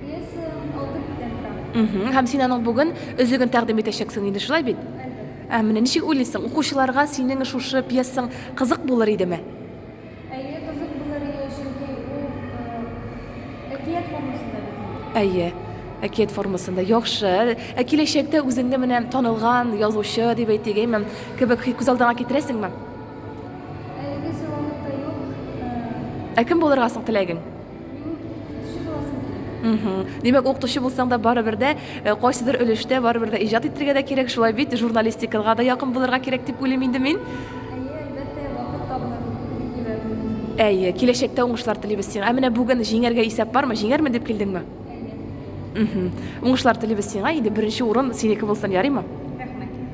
Пьеса алты биттән тора. Мхм. Һәм син аның бүген өзеген тәкъдим итәчәксең инде, шулай бит? Әлбәттә. Ә менә ничек уйлыйсың, укучыларга синең шушы пьесаң кызык булыр идеме? Әйе, кызык булыр иде, чөнки ул э, әкият формасында бит инде. Әйе, әкият формасында. Яхшы. Ә киләчәктә үзеңне менә танылган язучы дип әйтик, әйме, кебек хи- күз алдыңа китерәсеңме? Әлегәчә вакытта юк. Э, Ә кем булырга соң теләгең? Димәк, укытучы булсаң да барыбер дә э, кайсыдыр өлештә барыбер дә иҗат итәргә дә кирәк, шулай бит, журналистикага да якын булырга кирәк дип уйлыйм инде мин. Әйе, киләчәктә уңышлар телибез сиңа. Ә менә бүген җиңәргә исәп бармы? Җиңәрмен дип килдеңме? Әйе. Уңышлар телибез сиңа. Инде беренче урын синеке булсын, ярыймы?